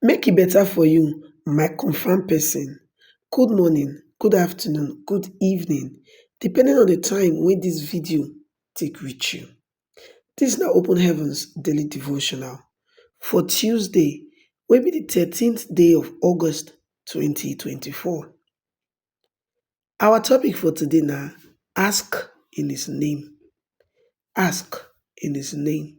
Make e better for you my confirm person. Good morning, good afternoon, good evening depending on the time wey this video take reach you. This na open heavens daily devotional for Tuesday wey be the thirteenth day of August twenty twenty four. Our topic for today na ask in his name, ask in his name.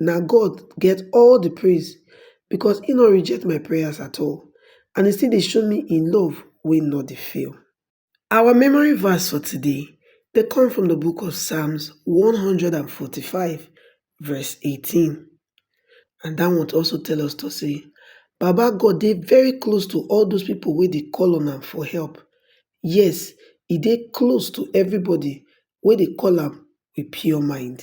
na God get all the praise because he no reject my prayers at all and he still dey show me in love wey no dey fail. Our memory verse for today dey come from the book of Psalms 145 verse 18 and that one also tell us to say Baba God dey very close to all those people wey dey call on am for help. Yes, e dey close to everybody wey dey call am with pure mind.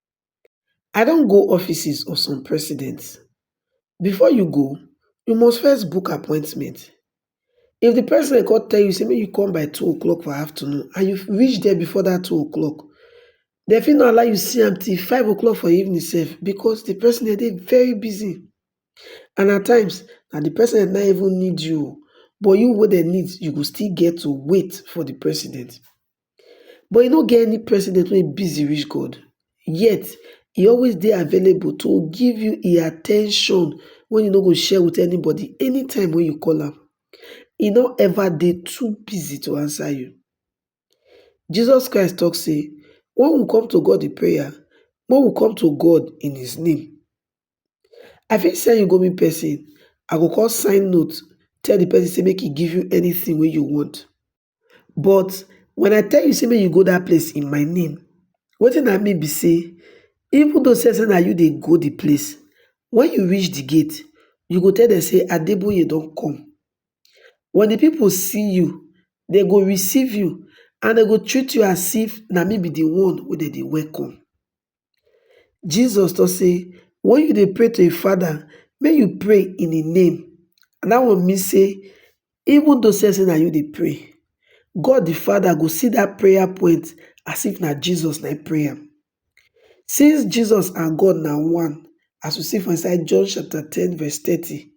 I don go offices of some presidents, before you go, you must first book appointment. If the president come tell you say make you come by two o'clock for afternoon and you reach there before that two o'clock, they fit not allow you see am till five o'clock for evening sef because the president dey very busy and at times na the president no even need you but you wey dem need you go still get to wait for the president. but e no get any president wey busy reach god yet e always dey available to give you e at ten tion wey e no go share with anybody anytime wey you call am e no ever dey too busy to answer you Jesus Christ talk say when we come to God in prayer when we come to God in his name I fit send you go meet person I go come sign note tell the person say make e give you anything wey you want but when I tell you say make you go that place in my name, wetin I mean be say even though say na you dey go the place, when you reach the gate, you go tell them say Adeboye don come. When the people see you, they go receive you and they go treat you as if na me be the one wey dem dey welcome. Jesus talk say when you dey pray to your father make you pray in the name and that one mean say even though say na you dey pray God the father go see that prayer point as if na Jesus na him pray am since Jesus and God na one as we see for inside John chapter ten verse thirty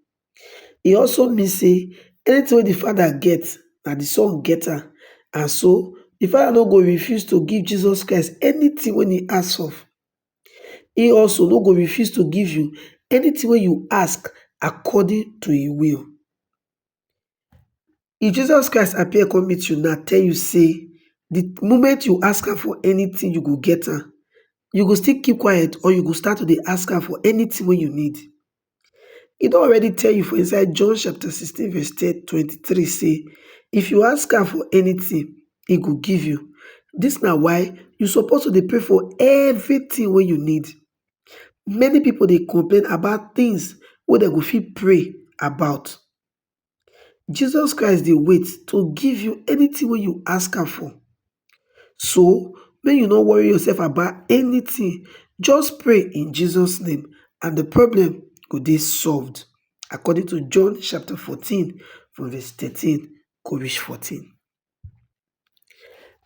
e also mean say anything wey di Father get, na di Son get am, and so di Father no go refuse to give Jesus Christ anything wey he ask of. He also no go refuse to give you anything wey you ask according to him will. If Jesus Christ appear come meet you now tell you say the moment you ask am for anything you go get am, you go still keep quiet or you go start to dey ask am for anything wey you need? He don already tell you for inside John chapter 16 verse 23 say, if you ask am for anything, he go give you. This na why you suppose to dey pray for everything wey you need. Many people dey complain about things wey dem go fit pray about. Jesus Christ dey wait to give you anything wey you ask am for. So, make you no worry yourself about anything, just pray in Jesus name and the problem go dey solved according to John chapter 14 from verse 13 go reach 14.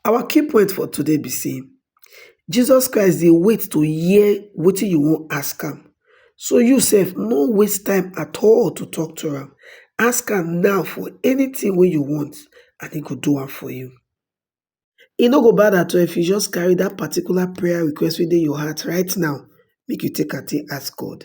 Our key point for today be say Jesus Christ dey wait to hear wetin you wan ask am. So you sef no waste time at all to talk to am. Ask am now for anything wey you want and he go do am for you. E no go bad at all if you just carry that particular prayer request wey dey your heart right now make you take am take ask God.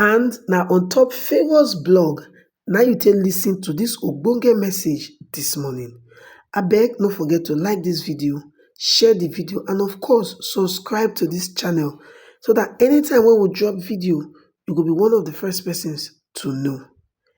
And na on top Favour's blog na you take listen to this ogbonge message this morning. Abeg no forget to like this video, share the video and of course subscribe to this channel so that anytime when we drop video, you go be one of the first persons to know.